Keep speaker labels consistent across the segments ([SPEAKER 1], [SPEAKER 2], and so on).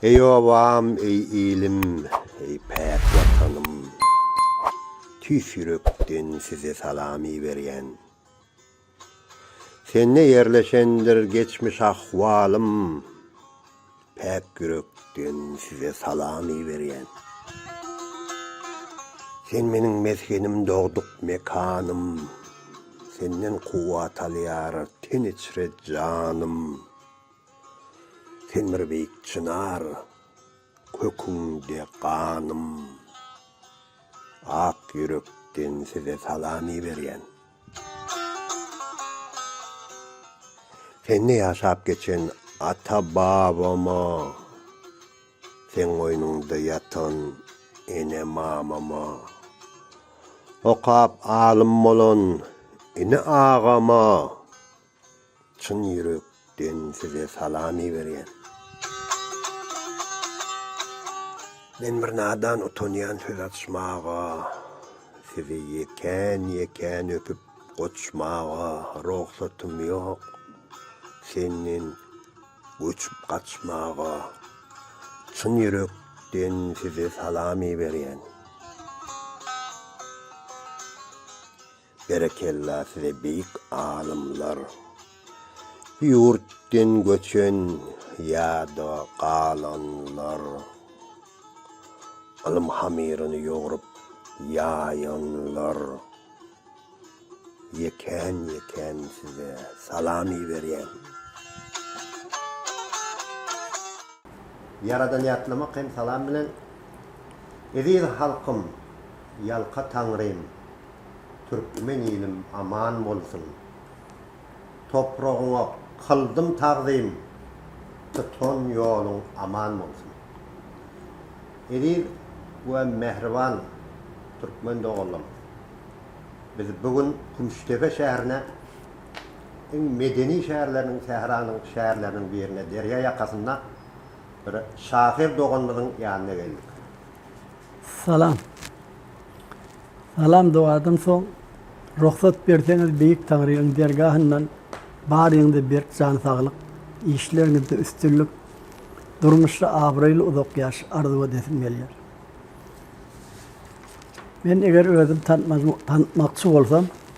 [SPEAKER 1] Eý obam, eý ilim, eý päk Watanym! Tüýs ýürekden size salam iberýän. Sende ýerleşendir geçmiş ahwalym, päk ýürekden size salam iberýän. Sen meniň mesgenim, dogduk mekanym, senden kuwwat alýar ten içre janym. Sen bir beýik çynar, köküňde ganym. Ak ýürekden size salam iberýän. Sende ýaşap geçen ata-babama, seň goýnuňda ýatan ene-mamama, okap alym bolan ini-agama, Çyn ýürek den size salam iberýän. Men bir nadan utanýan söz açmaga sizi ýekän ýekän öpüp goçmaga rogsatym ýok senden göçüp gaçmaga çyn ýürek den size salam iberýän. Berekella size beýik alymlar. Bu ýurtdan göçen ýa-da galanlar. Ylym hamyryny ýogrup ýaýanlar. Ýekän ýekän size salam iberýän. Ýaradan ýatlamak hem salam bilen. Eziz halkym ýalka Taňrym Türkmen ilim aman bolsun Topragyňa kyldym tagzym Tutan ýoluň aman bolsun Eziz we mähriban Türkmen doganlarym biz bu gün Kümüşdepe şäherine iň medeni şäherleriniň, sähranyň şäherleriniň birine, derýa ýakasynda bir şahyr doganymyzyň ýanyna geldik.
[SPEAKER 2] Salam. Salam dogadan soň, rugsat berseňiz Beýik Taňryň dergahyndan baryňyza berk jan saglyk, işleriňizde üstünlik, durmuşda abraýly uzak ýaş arzuw edesim gelýär. Men eger özüm tanitmakçy bolsam,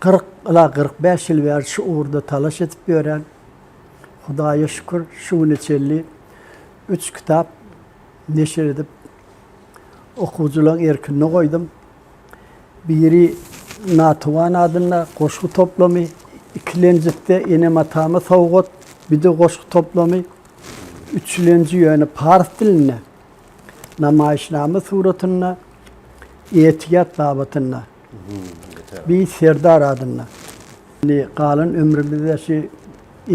[SPEAKER 2] Kyrk, ila kyrk bäş ýyl bäri şu ugurda talaş edip ýörän. Hudaýa şükür, şu güne çenli üç kitap neşir edip, okuwçylaryň erkine goýdum. Biri Natuwan adynda goşgy toplumy, ikilenjisi Enem-atama sowgat, bir-de goşgy toplumy, üçülenji ýöne pars dilinde, namaýyşnama suratynda, etiýat babatynda. Beýik Serdar adynda. Indi galan ömrümizi-de şu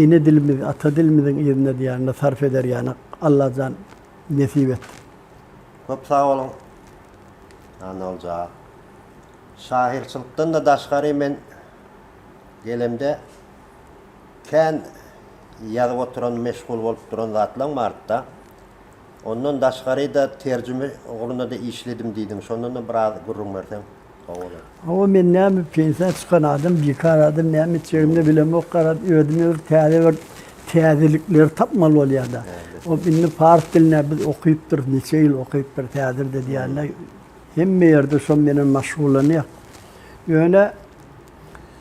[SPEAKER 2] ene dilimiz, ata dilimiziň yzyna diýýän-de sarp eder ýanak. Allajan nesip et. Köp sag
[SPEAKER 1] boluň Annaguljaa. Şahyrçylykdan-da daşgary men gelemde kän ýazyp oturan, meşgul bolup duran zatlaň bardy-da. Ondan daşgaryda terjime ugrunda-da işledim diýdiň. Şondan-da biraz gürrüň berseň gowy bolar. Hawa,
[SPEAKER 2] men näme pensiýa çykan adam, bikar adam näme etjegimde bilemok, garaz, özüme bir täze bir täzelikleri tapmaly bolýar-da. Hop, indi pars dilinde biz okypdyrys, niçe ýyl okypdyrys häzir-de diýende, hemme ýerde şo menen maşgullanýar. Ýöne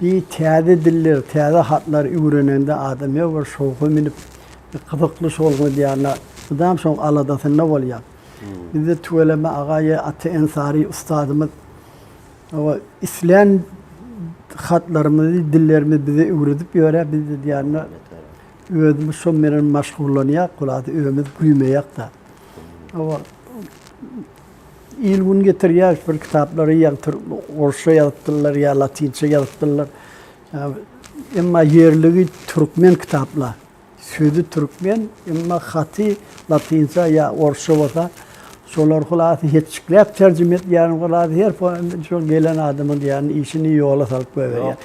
[SPEAKER 2] Bi täze diller, täze hatlar üwrenende adam ýa bir şowha münüp, bir gyzykly şowlugyň edýärine mydam şoň aladasynda bolýar. Bizde tüweleme aga ýa Ata Ensary ustadymyz oba islän hatlarymyzy, dillerimizi bize üwredip ýörä, biz edýärine özümiz şoň menen maşgullanýark, hülasa öýmüz güýmeýärk-de. Oba il-gün getirýär, bir kitaplary ýa orsça ýazypdyrlar, ýa latynça ýazypdyrlar. Emma ýerligi türkmen kitaplar. Sözi türkmen, emma haty latynça ýa orsça bolsa, şolary hulasy hetjikläp terjime edýärin, hulasy her şol gelen adamyň diýýän işini ýola salyp goýberýär.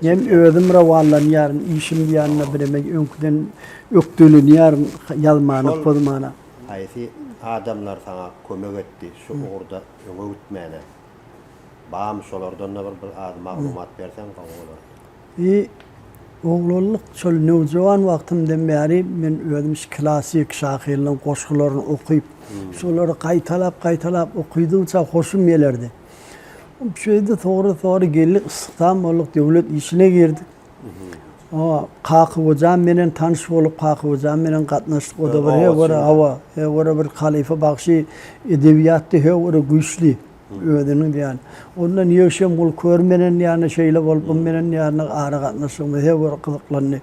[SPEAKER 1] Men özüm
[SPEAKER 2] rowanlanýaryn, işim diýende bireme öňküden ökdelenýärin, ýazmana, pozmana.
[SPEAKER 1] Haýsy adamlar saňa kömek etdi şu ugurda öňe gitmäne? Bamy şolardan-da bir bir az maglumat berseň gowy bolardy. I oglanlyk
[SPEAKER 2] şol nowjawan wagtymdan bäri men özüm şu klassyk şahyrlaryň goşgularyny okyp, şolary gaýtalap-gaýtalap okydygyça hoşum gelerdi. Şeýdi, sogra-sogra geldik, yssykdan bolduk, döwlet işine girdik. Awa, Kakyhojan menen tanyş bolup, Kakyhojan menen gatnaşdyk. O-da bir he görä, awa, he görä bir halypa bagşy, edebiýatda he görä güýçli, özüniň diýýän. Ondan ýegşem gul kör menen ýagny şeýle bolup, bu menen ýagny aragatnaşygymyz he görä gyzyklandy.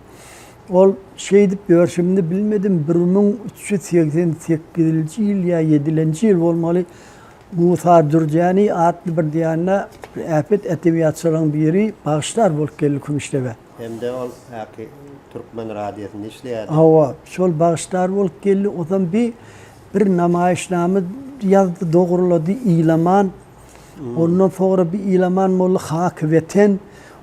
[SPEAKER 2] Ol şeýdip ýörşümde bilmedim, bir müň üç ýüz segsen sekizinji ýyl ýa ýedilenji ýyl bolmaly, Musa Dürjäni atly bir diýende bir äpet edebiýatçylaryň biri bagyşlar bolup geldi Kümüşdege. Hem-de ol
[SPEAKER 1] häki Türkmen radiýasynda işleýärdi. Hawa, şol bagyşlar
[SPEAKER 2] bolup geldi. Ozam bi bir namaýyşnama ýazdy, dogrulady Ilaman. Ondan soňra bi Ilaman molla Haky Weten.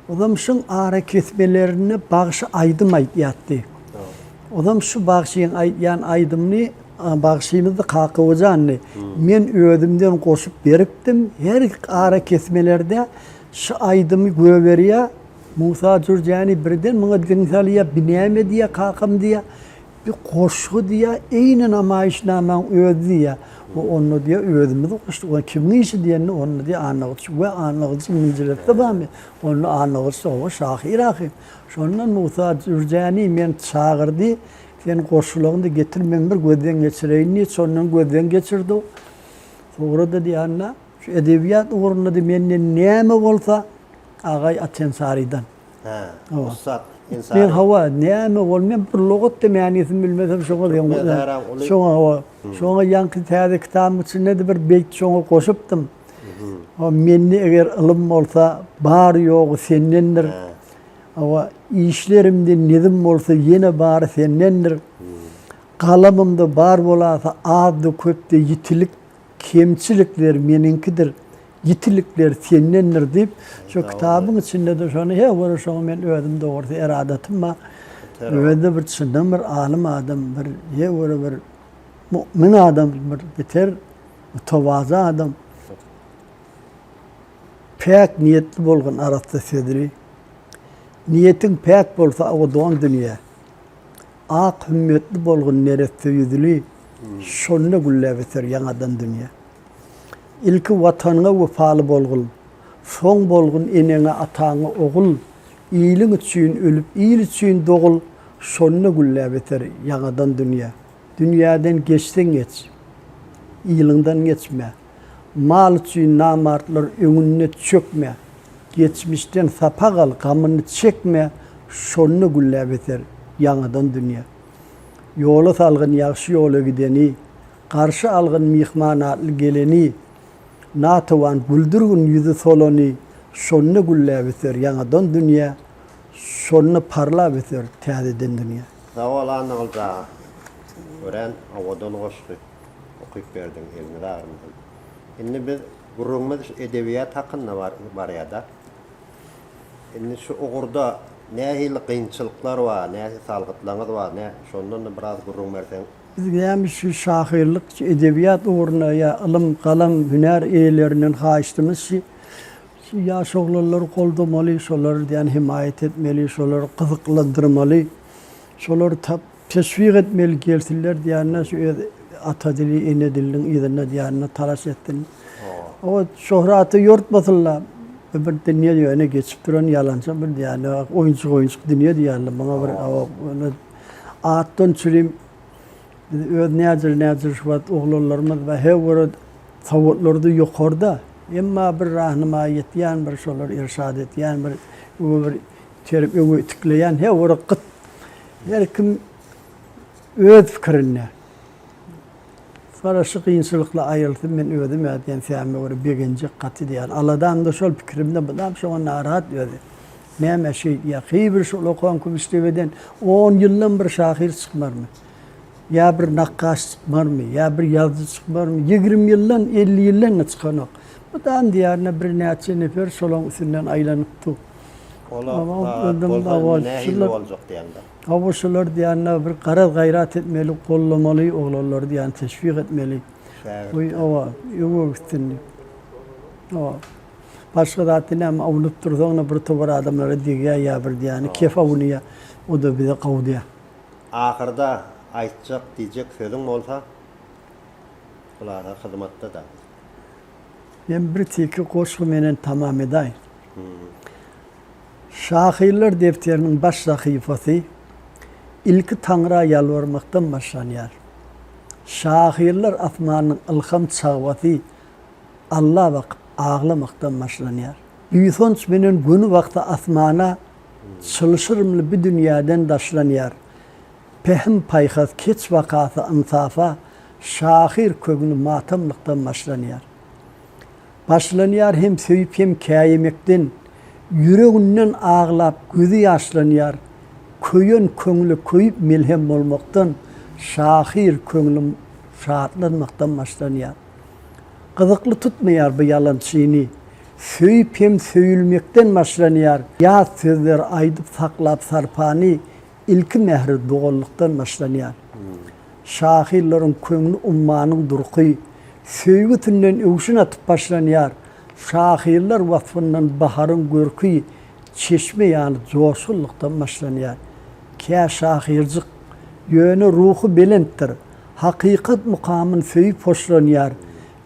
[SPEAKER 2] Ozam şuň arakesmelerinde bagşy aýdym aýdýardy. Ozam şu bagşyň aýdýan aýdymyny Bagşymyzdy Kaka Hojandy. Men özümden goşup beripdim. Her arakesmelerde şu aýdymy göberýä. Musa Jürjäni birden muňa diň salýa, bi näme diýä kakam diýä. Bi goşgy diýä, eýni namaýyşnamaň özi diýä. We onda diýä özümiz goşduk. Onda kimiň işi diýende onda diýä Annagylyç. We Annagylyç indi jiletde barmy? Onda Annagylyç owo şahyr ahyr. Şondan Musa Jürjäni meni çagyrdy. Sen goşulagyny getir, men bir gözden geçireýin diýip, şondan gözden geçirdi. Soňra-da diýýän-dä, şu edebiýat ugrunda-da menden näme bolsa, Agaý Atensarydan. Hä, ussat
[SPEAKER 1] Ensary. Men hawa,
[SPEAKER 2] näme bol, men bir lugat-da mänisini bilmesem, şoňa deň bolýan. Şoňa hawa, şoňa ýaňky täze kitabyň içinde-de bir beýt şoňa goşupdym. Mende eger ylym bolsa, bary-ýogy sendendir. Hawa, işlerimde nizm bolsa ýene bary sendendir. Galamymda bar bolasa azda-köpde ýitilik, kemçilikler meniňkidir. Ýitilikler sendendir diýip, şo kitabyň içinde-de şony, he, görä şoňa men özüm dogrusy eradatym bar. Özi-de bir çyndan bir alym adam, bir, he, görä bir mumin adam, bir beter mütewazy adam. Päk niýetli bolgun arassa sözli. Niýetiň päk bolsa abadan dünýä, Ak hümmetli bolgun neresse ýüzli, Şonda gülläp öser ýaňadan dünýä. Ilki Watanyňa wepaly bolgun, Soň bolgun eneňe ataňa ogul, Iliň üçin ölüp il üçin dogul, Şonda gülläp öser ýaňadan dünýä. Dünýäden geçseň geç, ylyňdan geçme, Mal üçin namartlar öňünde çökme, Geçmişden sapak al, gamyny çekme, Şonda gülläp eser ýaňadan dünýe. Ýola salgyn ýagşy ýola gideni, Garşy algyn myhman atly geleni, Natawan güldürgin ýüzi solany, Şonda gülläp eser ýaňadan dünýe, Şonda parlap eser täzeden dünýe. Sag bol Annaguljaa.
[SPEAKER 1] Örän owadan goşgy. Okyp berdiň eliniz agyrmasyn. Indi biz gürrüňimiz şu edebiýat hakynda bar barýada. Indi şu ugurda nähili gynçylyklar bar, nähili salgytlaryňyz bar, nä şondan da biraz gürrüň berseň. Biz näme şu
[SPEAKER 2] şahyrlyk, şu edebiýat ugruna ýa ylym, galam, hünär eýelerinden haýyştymyz şi, şu ýaş oglanlary goldamaly, şolar diýen hemaýat etmeli, şolary gyzyklandyrmaly, şolary tap Teşwik etmeli gelsinler diýende şu öz ata dili, ene diliniň yzynda diýende talaş etsin. O şöhraty ýortmasynla. Bu bir dünýe ýöne geçip duran ýalançy bir diýende oýunçyk oýunçyk dünýe diýende muňa bir ýöne atdan çürim biz öz näjir näjir şu wagt oglanlarymyz we her bir sowatlarda ýokarda emma bir rahnama ýetýän bir şolar irşat etýän bir bu bir Terip öwi tikleýän he ora gyt. Her kim öz pikirinde. Sara şu gynçylykly aýylsyn men özüm ä diýen säme görä begenjek gaty diýýän. Aladamda şol pikirimde mydam şoňa narahat özi. Näme şeý diýýär. Heý bir şol okan kümüşdebeden on ýyldan bir şahyr çykmarmy? Ýa bir nakgaş çykmarmy? Ýa bir ýazyjy çykmarmy? Ýigrimi ýyldan elli ýyldan-da çykanok. Mydam diýarynda birnäçe nefer şolaň üstünden aýlanyp dur.
[SPEAKER 1] Olar
[SPEAKER 2] nähili
[SPEAKER 1] boljak diýende. Hawa şolar diýende
[SPEAKER 2] bir garaz gaýrat etmeli gollamaly oglanlary diýende teşwik etmeli. Goý hawa öňe gitsin diýip. Hawa. Başga zatda näme awunyp dursaňda bir tobar adamlara degýär ýa bir diýende kef awunýar o da bize gowdýar. Ahyrda
[SPEAKER 1] aýtjak diýjek sözüň bolsa bulara hyzmatda da.
[SPEAKER 2] Men bir tiki goşgy menen tamam edaýyn. Şahyrlar depderiniň baş sahypasy ilki Taňra ýalbarmakdan başlanýar. Şahyrlar asmanynyň ylham çagwasy Alla bakyp aglamakdan başlanýar. Buýsanç menen göni wagty asmana çylşyrymly bi dünýäden daşlanýar. Pähim-paýhas, keç wakasy ynsafa, şahyr köňli matamlykdan başlanýar. Başlanýar hem söýüp hem käýemekden, ýüreginden aglap gözi ýaşlanýar. Köýen köňle köýüp melhem bolmakdan, şahyr köňli şatlanmakdan başlanýar. Gyzykly tutmaýar bu ýalan çyny, söýüp hem söýülmekden başlanýar. Ýat sözler aýdyp saklap sarpany, Ilki mähri dogallykdan başlanýar. Şahyllaryň köňli ummanyň durky söýgi tünden öwşün atyp başlanýar. Şahyrlar waspyndan baharyň görki çeşme ýaly joşgunlykdan başlanýar. Kä şahyrjyk, ýöne ruhy belentdir. Hakykat mukamyn söýüp hoşlanýar.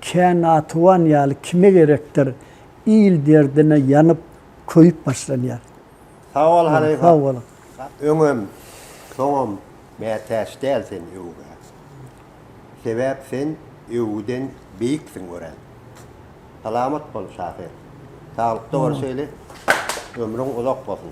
[SPEAKER 2] Kä natuwan ýaly kime gerekdir. Il derdine ýanyp, köýüp başlanýar. Sag bol
[SPEAKER 1] halypa. Sag boluň.
[SPEAKER 2] Öňem,
[SPEAKER 1] soňam mätäç däl sen öwgä. Sebäp sen öwgüden beýiksiň örän. Salamat bol şahyr. Saglykda bol şeýle ömrüň uzak bolsun.